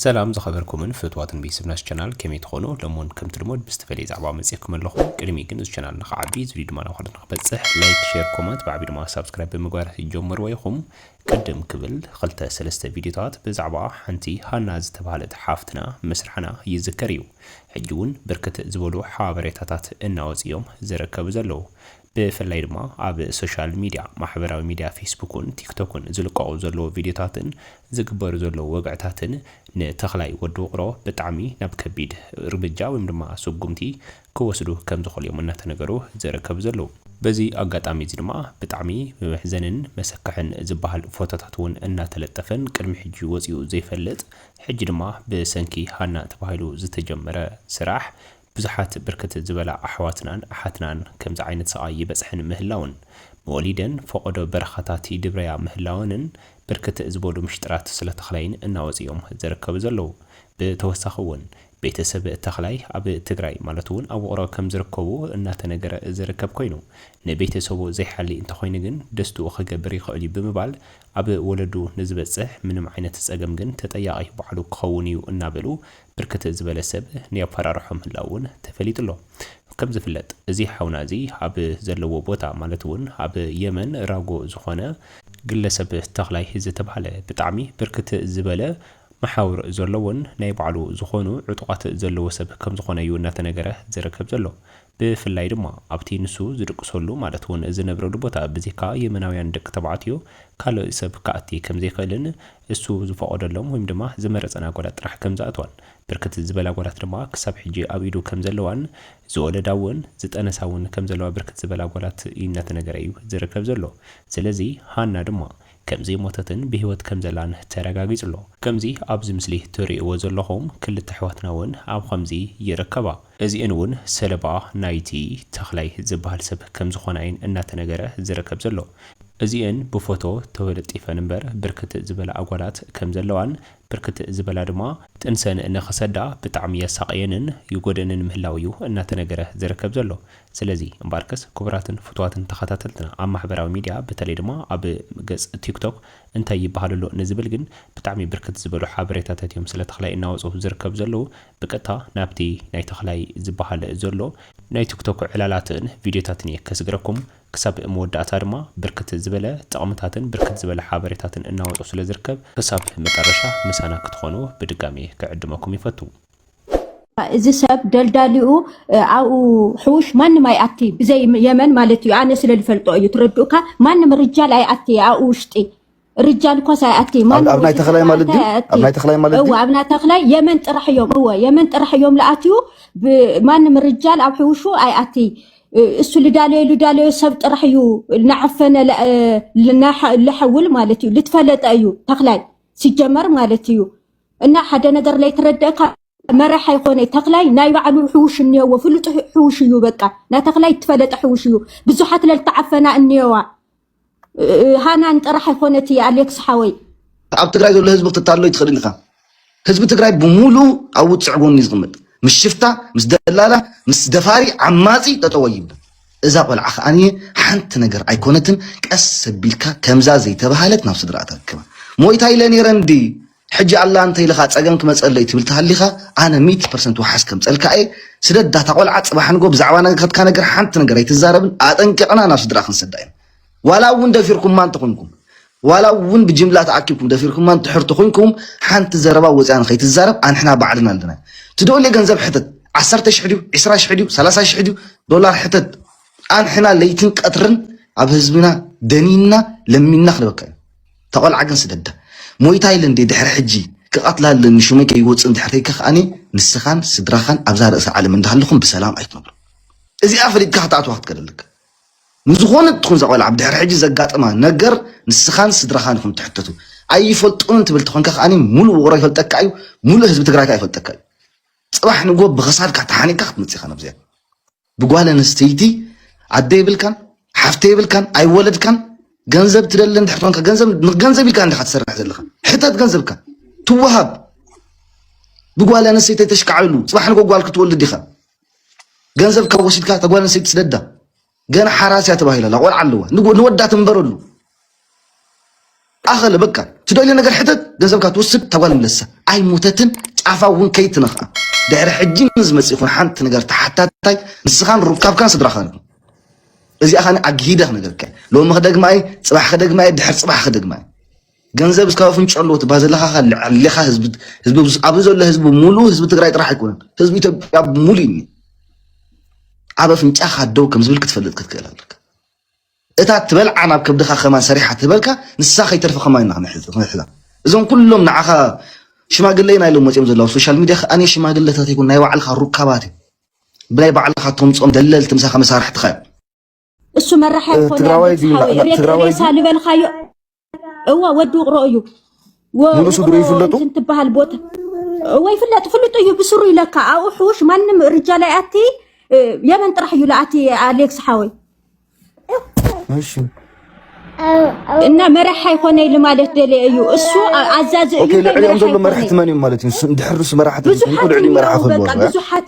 ሰላም ዝከበርኩምን ፍትዋትን ቤተሰብና እዚ ቻናል ከመይ ትኮኑ ሎሚ ውን ከምቲ ልሙድ ብዝተፈለየ ዛዕባ መጽየኩም ኣለኩ ቅድሚ ግን እዚ ቻናል ንክዓቢ እዚ ቪድዮ ድማ ናብ ካልኦት ንክበጽሕ ላይክ ሸር ኮመንት ብዓቢ ድማ ሳብስክራይብ ብምግባር ጀምርዎ ኢኩም ቅድም ክብል ክልተ ሰለስተ ቪድዮታት ብዛዕባ ሓንቲ ሃና ዝተባሃለት ሓፍትና ምስራሕና ይዝከር እዩ ሕጂ ውን ብርክት ዝበሉ ሓበሬታታት እናወጽ እዮም ዝርከቡ ዘለዉ ብፍላይ ድማ ኣብ ሶሻል ሚድያ፣ ማሕበራዊ ሚድያ ፌስቡክን ቲክቶክን ዝልቀቑ ዘለዉ ቪድዮታትን ዝግበሩ ዘለዉ ወግዕታትን ንተኽላይ ወዲ ውቕሮ ብጣዕሚ ናብ ከቢድ እርምጃ ወይም ድማ ስጉምቲ ክወስዱ ከምዝኽእሉ እዮም እናተነገሩ ዝርከቡ ዘለዉ። በዚ ኣጋጣሚ እዚ ድማ ብጣዕሚ ብመሕዘንን መሰክሕን ዝበሃል ፎቶታት እውን እናተለጠፈን ቅድሚ ሕጂ ወፂኡ ዘይፈልጥ ሕጂ ድማ ብሰንኪ ሃና ተባሂሉ ዝተጀመረ ስራሕ ብዙሓት ብርክት ዝበላ ኣሕዋትናን ኣሓትናን ከምዚ ዓይነት ስቓይ ይበጽሐን ምህላውን፣ መወሊደን ፎቖዶ በረኻታት ይድብረያ ምህላወንን ብርክት ዝበሉ ምሽጥራት ስለ ተኽላይን እናወጹ እዮም ዝርከቡ ዘለዉ። ብተወሳኺ እውን ቤተሰብ ተኽላይ ኣብ ትግራይ ማለት እውን ኣብ ውቕሮ ከም ዝርከቡ እናተነገረ ዝርከብ ኮይኑ፣ ንቤተሰቡ ዘይሓሊ እንተኾይኑ ግን ደስትኡ ክገብር ይኽእል እዩ ብምባል ኣብ ወለዱ ንዝበጽሕ ምንም ዓይነት ጸገም ግን ተጠያቒ ባዕሉ ክኸውን እዩ እናበሉ ብርክት ዝበለ ሰብ ንየፈራርሖ ምህላዉ ውን ተፈሊጡ ኣሎ። ከም ዝፍለጥ እዚ ሓውና እዚ ኣብ ዘለዎ ቦታ ማለት ውን ኣብ የመን ራጎ ዝኾነ፣ ግለሰብ ተኽላይ ዝተብሃለ ብጣዕሚ ብርክት ዝበለ መሓውር ዘለዎን ናይ ባዕሉ ዝኾኑ ዕጡቓት ዘለዎ ሰብ ከም ዝኾነ ዩ እናተነገረ ዝርከብ ዘሎ። ብፍላይ ድማ ኣብቲ ንሱ ዝድቅሰሉ ማለት እውን ዝነብረሉ ቦታ ብዜካ የመናውያን ደቂ ተባዕትዮ ካልእ ሰብ ክኣቲ ከም ዘይክእልን እሱ ዝፈቐደሎም ወይም ድማ ዝመረጸን ኣጓላት ጥራሕ ከም ዝኣትዋን ብርክት ዝበላ ኣጓላት ድማ ክሳብ ሕጂ ኣብ ኢዱ ከም ዘለዋን ዝወለዳ እውን ዝጠነሳ እውን ከም ዘለዋ ብርክት ዝበላ ኣጓላት እናተነገረ እዩ ዝርከብ ዘሎ ስለዚ ሃና ድማ ከምዘይሞተትን ብህይወት ከምዘላን ተረጋጊጹ'ሎ። ከምዚ ኣብዚ ምስሊ ትርእይዎ ዘለኹም ክልተ ኣሕዋትና እውን ኣብ ኸምዚ ይርከባ። እዚኤን እውን ሰለባ ናይቲ ተኽላይ ዝበሃል ሰብ ከምዝኾና እየን እናተነገረ ዝርከብ ዘሎ። እዚኤን ብፎቶ ተወለጢፈን እምበር ብርክት ዝበላ ኣጓላት ከምዘለዋን ብርክት ዝበላ ድማ ጥንሰን ንኽሰዳ ብጣዕሚ የሳቕየንን ይጎድእንን ምህላዉ እዩ እናተነገረ ዝርከብ ዘሎ። ስለዚ እምበኣርከስ ክቡራትን ፍቱዋትን ተኸታተልትና ኣብ ማሕበራዊ ሚድያ በተለይ ድማ ኣብ ገጽ ቲክቶክ እንታይ ይበሃል ኣሎ ንዝብል ግን ብጣዕሚ ብርክት ዝበሉ ሓበሬታታት እዮም ስለ ተኽላይ እናወጹ ዝርከቡ ዘለዉ ብቀጥታ ናብቲ ናይ ተኽላይ ዝበሃል ዘሎ ናይ ቲክቶክ ዕላላትን ቪድዮታትን እየ ከስግረኩም ክሳብ መወዳእታ ድማ ብርክት ዝበለ ጥቕምታትን ብርክት ዝበለ ሓበሬታትን እናወጹ ስለ ዝርከብ ክሳብ መጠረሻ ምሳና ክትኾኑ ብድጋሜ ክዕድመኩም ይፈቱ። እዚ ሰብ ደልዳሊኡ ኣብኡ ሕውሽ ማንም ኣይኣቲ ብዘይ የመን ማለት እዩ ኣነ ስለ ዝፈልጦ እዩ ትረድኡካ ማንም ርጃል ኣይኣቲ ኣብኡ ውሽጢ ርጃል እኳስ ኣይኣቲ ኣብ ናይ ተኽላይ ማለት ድዩ ኣብ ናይ ተኽላይ ማለት እወ ኣብ ናይ ተኽላይ የመን ጥራሕ እዮም እወ የመን ጥራሕ እዮም ልኣትዩ ማንም ርጃል ኣብ ሕውሹ ኣይኣቲ እሱ ልዳለዮ ልዳለዮ ሰብ ጥራሕ እዩ ናዓፈነ ልሐውል ማለት እዩ ልትፈለጠ እዩ ተኽላይ ሲጀመር ማለት እዩ እና ሓደ ነገር ለይትረደእካ መራሓይ ኮነ ተክላይ ናይ ባዕሉ ሕውሽ እኒኦዎ ፍሉጥ ሕውሽ እዩ በቃ ናተክላይ ትፈለጠ ሕውሽ እዩ ብዙሓት ለልተዓፈና እኒኦዋ ሃናን ጥራሕ ኣይኮነት እየ ኣሌክስ ሓወይ ኣብ ትግራይ ዘሎ ህዝቢ ክትታሎ ይትኽእልን ኢኻ ህዝቢ ትግራይ ብሙሉ ኣብ ውፅዕ ጎኒ ዝቕመጥ ምስ ሽፍታ ምስ ደላላ ምስ ደፋሪ ዓማፂ ጠጠወ ይብል እዛ ቆልዓ ከኣ ሓንቲ ነገር ኣይኮነትን ቀስ ኣቢልካ ከምዛ ዘይተባሃለት ናብ ስድራኣ ተረክባ ሞይታ ኢለ ነይረ እንዲ ሕጂ ኣላ እንተ ኢልኻ ጸገም ክመጸለይ ትብል ተሃሊኻ ኣነ ሚእቲ ፐርሰንት ውሓስ ከምጸልካ እየ ስደዳ እታ ቆልዓ ጽባሕ ንጎ ብዛዕባ ነገርካ ነገር ሓንቲ ነገር ኣይትዛረብን ኣጠንቂቕና ናብ ስድራኣ ክንሰዳ ኢና ዋላ እውን ደፊርኩማ እንተኾንኩም ዋላ እውን ብጅምላ ተኣኪብኩም ደፊርኩማ እንድሕር ተኾይንኩም ሓንቲ ዘረባ ወፂኣ ንኸይትዛረብ ኣንሕና ባዕልና ኣለና ትደልዮ ገንዘብ ሕተት ዓሰርተ ሽሕ ድዩ ዕስራ ሽሕ ድዩ ሰላሳ ሽሕ ድዩ ዶላር ሕተት ኣንሕና ለይትን ቀትርን ኣብ ህዝብና ደኒንና ለሚንና ክንበካ እዩ ተቆልዓ ግን ስደዳ ሞይታ ኢለ እንዴ ድሕሪ ሕጂ ክቐትላ ኣለኒ ሹመይ ከይወፅእ እንድሕር ከይከኸኣኒ ንስኻን ስድራኻን ኣብዛ ርእሲ ዓለም እንዳሃለኹም ብሰላም ኣይትነብሩ እዚኣ ፈሊጥካ ክትኣትዋ ክትከደልካ ንዝኾነት ትኹን እዛ ቆልዓ ብድሕሪ ሕጂ ዘጋጥማ ነገር ንስኻን ስድራኻን ኢኹም ትሕተቱ። ኣይፈልጦምን ትብል ተኾንካ ከኣ ሙሉእ ውቕሮ ይፈልጠካ እዩ፣ ሙሉእ ህዝቢ ትግራይ ከኣ ይፈልጠካ እዩ። ጽባሕ ንግሆ ብኽሳድካ ተሓኒቕካ ክትመጽእ ኢኻ ናብዚኣ። ብጓል ኣንስተይቲ ኣደ የብልካን ሓፍተ የብልካን ኣይወለድካን ገንዘብ ትደሊ እንድሕር ኮንካ ገንዘብ ንገንዘብ ኢልካ እንድኻ ትሰርሕ ዘለኻ ሕተት ገንዘብካ ትወሃብ ብጓል ኣንስተይቲ ተሽካዕሉ ጽባሕ ንግሆ ጓል ክትወልድ ኢኻ ገንዘብ ካብ ወሲድካ እታ ጓል ኣንስተይቲ ስደዳ ገና ሓራስ እያ ተባሂላ ኣላ ቆልዓ ኣለዋ ንወዳ ትንበረሉ ኣኸለ በቃ ትደልዮ ነገር ሕተት ገንዘብካ ትወስድ እታ ጓል ምለሳ ኣይሞተትን ጫፋ እውን ከይትነኽኣ ድሕሪ ሕጂ ንዝመፅ ይኹን ሓንቲ ነገር ተሓታታይ ንስኻን ሩካብካን ስድራኻን ኢኹም እዚኣ ኸ ኣግሂደ ክነገርካ ሎሚ ክደግማ እየ ፅባሕ ክደግማ እየ ድሕር ፅባሕ ክደግማ እየ ገንዘብ እስካብ ኣፍንጭ ኣለዎ ትባ ዘለካ ካልዕ ኣሌካ ህዝቢ ኣብዚ ዘሎ ህዝቢ ሙሉ ህዝቢ ትግራይ ጥራሕ ኣይኮነን ህዝቢ ኢትዮጵያ ሙሉ እዩ ኣብ ኣፍንጫካ ደው ከም ዝብል ክትፈልጥ ክትክእል ኣለካ እታ ትበልዓ ናብ ከብድካ ከማን ሰሪሓ ትበልካ ንሳ ከይተርፈ ከማን ኢና ክንሕዛ እዞም ኩሎም ንዓኻ ሽማግለ ኢና ኢሎም መፅኦም ዘለዉ ሶሻል ሚዲያ ከኣነ ሽማግለታት ይኩን ናይ ባዕልካ ሩካባት እዩ ብናይ ባዕልካ ተምፆም ደለልቲ ምሳካ መሳርሕትካ እዮም እሱ መራሕ ኣይኮነ ሬሳ ልበልካዮ እዋ ወዲ ውቅሮ እዩ ንርእሱ ድሮ ይፍለጡ ትበሃል ቦታ እወ ይፍለጥ ፍሉጥ እዩ ብስሩ ይለካ ኣብኡ ሕውሽ ማንም ርጃ ላይ ኣቲ የመን ጥራሕ እዩ ለኣቲ ኣሌክስ ሓወይ እና መራሕ ኣይኮነ ኢሉ ማለት ደልየ እዩ እሱ ኣዛዚ እዩ ልዕሊኦም ዘሎ መራሕቲ መን እዮም ማለት እዩ ድሕርስ መራሕቲ ብዙሓት ብዙሓት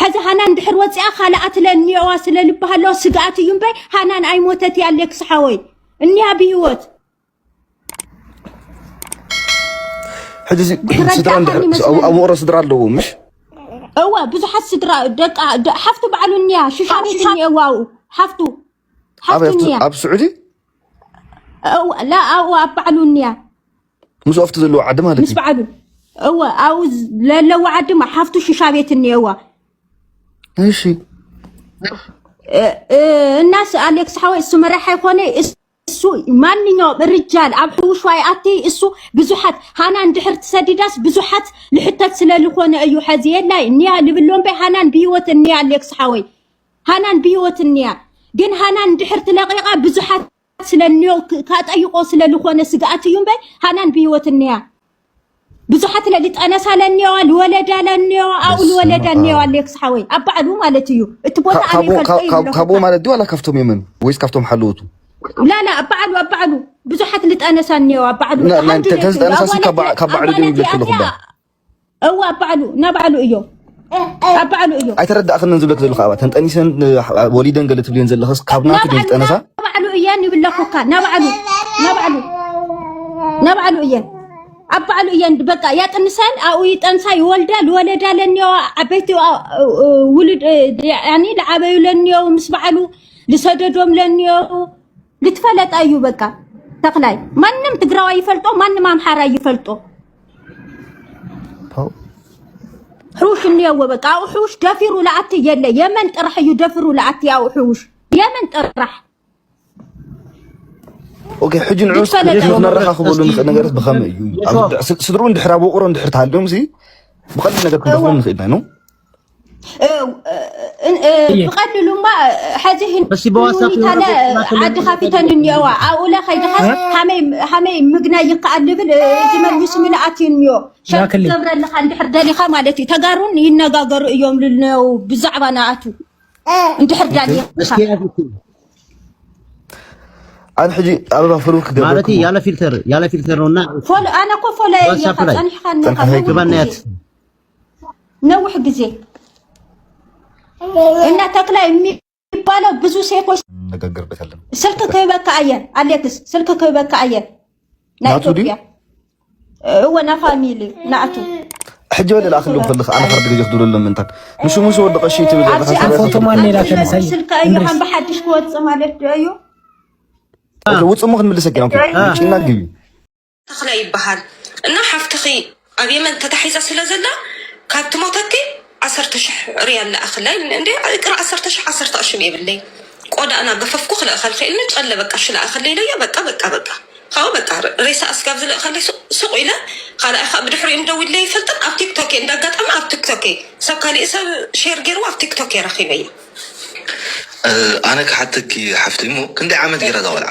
ሕዚ ሃናን ድሕር ወፂኣ ካልኣት ለ እኒኦዋ ስለ ልባሃ ኣለዋ ስግኣት እዩ እምበይ ሃናን ኣይሞተት እያ ሌክስ ሓወይ እኒያ ብሂወት ሕጂ እዚ ስድራ ትረዳእካኒ እንድሕር ኣብ መስለኒ ኣብ ውቕሮ ስድራ ኣለዎ ምሽ እወ ብዙሓት ስድራ ደቃ ደ- ሓፍቱ ባዕሉ እኒያ ሽሻ ቤት እኒኤዋ ኣብኡ ሓፍቱ ሓፍቱ ኣበይ ኣብቲ- እኒያ ኣብ ስዑዲ እወ ላ ኣብኡ ኣብ ባዕሉ እኒያ ምስ ኦፍቲ ዘለዎ ዓዲ ማለት ምስ በዓሉ እወ ኣብኡ ዘለዎ ዓዲ ሓፍቱ ሽሻ ቤት እኒአዋ እሺ እናስ ኣሌክስ ሓወይ እሱ መራሒ ኮነ እሱ ማንኛውም ርጃል ኣብ ሕውሽ ዋይ ኣቲ እሱ ብዙሓት ሃና እንድሕር ትሰዲዳስ ብዙሓት ልሕተት ስለ ዝኾነ እዩ ሐዚ የላይ እኒያ ልብሎ እምበይ ሃናን ብሂወት እኒያ ኣሌክስ ሓወይ ሃናን ብሂወት እኒያ ግን ሃናን እንድሕር ትለቂቓ ብዙሓት ስለ እንዮ ካጠይቆ ስለ ልኾነ ስግኣት እዩ እምበይ ሃናን ብህይወት እንያ ብዙሓት ለሊ ጠነሳ ለኒዋ ልወለዳ ለኒዋ ኣብኡ ልወለዳ ኒዋ ሌክስ ሓወይ ኣብ ባዕሉ ማለት እዩ እቲ ቦታ ኣነ ይፈልጦ እዩ ካብኡ ማለት ድዩ ዋላ ካብቶም የመን ወይስ ካብቶም ሓለወቱ ላላ ኣብ ባዕሉ ኣብ ባዕሉ ብዙሓት ልጠነሳ ኒዋ ኣብ ባዕሉ ተሓንዱ ካብ ባዕሉ ድዩ ይብለክ ኣለኹ እዋ ኣብ ባዕሉ እና ባዕሉ እዮ ኣብ ባዕሉ እዮ ኣይተረዳእክንን ዝብለክ ዘለካ ኣባ ተንጠኒሰን ወሊደን ገለ ትብልየን ዘለክስ ካብ ናቱ ድዩ ዝጠነሳ ናባዕሉ እየን ይብለኩካ ናባዕሉ ናባዕሉ ናባዕሉ እየን ኣብ ባዕሉ እየን በቃ ያጥንሰን ኣብኡ ይጠንሳ ይወልዳ ዝወለዳ ለኒዮ ዓበይቲ ውሉድ ያኒ ዝዓበዩ ለኒዮ ምስ በዓሉ ዝሰደዶም ለኒዮ ልትፈለጣ እዩ በቃ ተክላይ ማንም ትግራዋይ ይፈልጦ ማንም ኣምሓራ ይፈልጦ ሑሽ እንየዎ በቃ ኣብኡ ሑሽ ደፊሩ ለኣቲ የለ የመን ጥራሕ እዩ ደፊሩ ለኣቲ ኣብኡ ሑሽ የመን ጥራሕ ኦኬ ሕጂ ንዑ ነረኻኽበሉ ንኽእል ነገርስ ብኸመይ እዩ ስድርኡ እንድሕር ኣብ ውቕሮ እንድሕር ተሃልዮም ብቐሊል ነገር ክንረኽቦም ንኽእል ኢና ብቐሊሉ እማ ሕዚ ህኒታለ ዓዲ ካፊተን እኒኦዋ ኣብኡለ ከይድኻስ ሃመይ ምግናይ ይከኣል ዝብል እዚ መልሚሱ ምልኣት እዩ እኒኦ ሸርክ ገብረልኻ እንድሕር ደሊኻ ማለት እዩ ተጋሩን ይነጋገሩ እዮም ልነው ብዛዕባ ንኣቱ እንድሕር ዳሊኻ ኣብ ሕጂ ኣበባ ፍሩ ክገብር ማለት ያለ ፊልተር ያለ ፊልተር ነውና ፎሎ ኣነ እኮ ፎሎ እየ ጸኒሕካ ነካ ነውሕ ጊዜ እና ተክላ የሚባለው ብዙ ሴቶች ነገርበት ያለ ስልክ ክህበካ ኣየ ኣሌክስ ስልክ ክህበካ ኣየ ናይ ኢትዮጵያ እወ ና ፋሚሊ ናእቱ ሕጂ ወደ ላእክሉ ክልኽ ኣነ ሓርድ ግዜ ክድብለሉ ምንታን ንሱ ምስ ወዲ ቀሺ ትብል ስልካ እዩ ከም ብሓድሽ ክወፅእ ማለት ዶ እዩ ውፅሙ ክንምልሰ ጌና ጭና ግቢ ተክላይ ይበሃል እና ሓፍትኺ ኣብ የመን ተታሒዛ ስለ ዘላ ካብ ትሞተኪ ዓሰርተ ሽሕ ሪያል ልኣኽላ ኢሉኒ እንዴ ይቅረ ዓሰርተ ሽሕ ዓሰርተ ቅርሽም የብለይ ቆዳ እና ገፈፍኩ ክልእኸልኺ ኢሉኒ ጨለ በቃ እሺ ልኣኽለይ ኢለዮ በቃ በቃ በቃ ካብኡ በቃ ረ- ሬሳ ኣስጋብ ዝልእኸለይ ሱቅ- ሱቅ ኢለ ካልኣይ ከዓ ብድሕሪኡ ምደዊለ ይፈልጥን ኣብ ቲክቶክ እየ እንዳጋጣሚ ኣብ ቲክቶክ እየ ሰብ ካሊእ ሰብ ሼር ገይርዎ ኣብ ቲክቶክ እየ ረኺበያ ኣነ ክሓተኪ ሓፍተይ እሞ ክንደይ ዓመት ገይራ እዛ ቆልዓ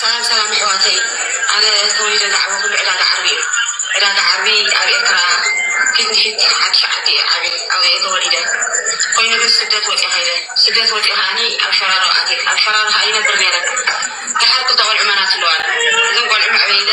ሰላም ሰላም ኣሕዋተይ ኣነ ተወሊደ ዝዓበኹሉ ዕዳጋ ዓርቢ እዩ ዕዳጋ ዓርቢ ኣብ ኤርትራ ፊት ንፊት ሓድሽ ዓዲ እየ ዓብየ ኣብኡ እየ ተወሊደ ኮይኑ ግን ስደት ወፅየ ከይደ ስደት ወፅየ ከዓኒ ኣብ ሸራሮ ኣትየ ኣብ ሸራሮ ከዓ ይነብር ነይረ ደሓር ክልተ ቆልዑ መናት ኣለዋኒ እዘን ቆልዑ መዕበይ ኢለ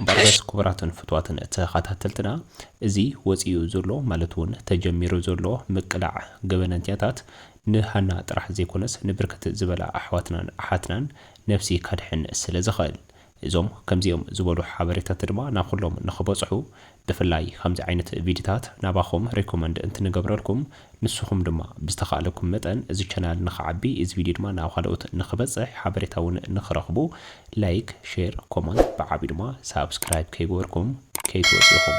እምበኣርከስ ክቡራትን ፍቱዋትን ተኸታተልትና እዚ ወጺኡ ዘሎ ማለት እውን ተጀሚሩ ዘሎ ምቅላዕ ገበነኛታት ንሃና ጥራሕ ዘይኮነስ ንብርክት ዝበላ ኣሕዋትናን ኣሓትናን ነብሲ ከድሕን ስለዝኽእል እዞም ከምዚኦም ዝበሉ ሓበሬታት ድማ ናኹሎም ንኽበጽሑ ብፍላይ ከምዚ ዓይነት ቪድታት ናባኹም ሪኮመንድ እንትንገብረልኩም ንስኹም ድማ ብዝተኻእለኩም መጠን እዚ ቻናል ንኽዓቢ እዚ ቪድዮ ድማ ናብ ኻልኦት ንኽበፅሕ ሓበሬታ እውን ንኽረኽቡ ላይክ ሼር ኮማንት ብዓብዩ ድማ ሳብስክራይብ ከይገበርኩም ከይትወፁ ኢኹም።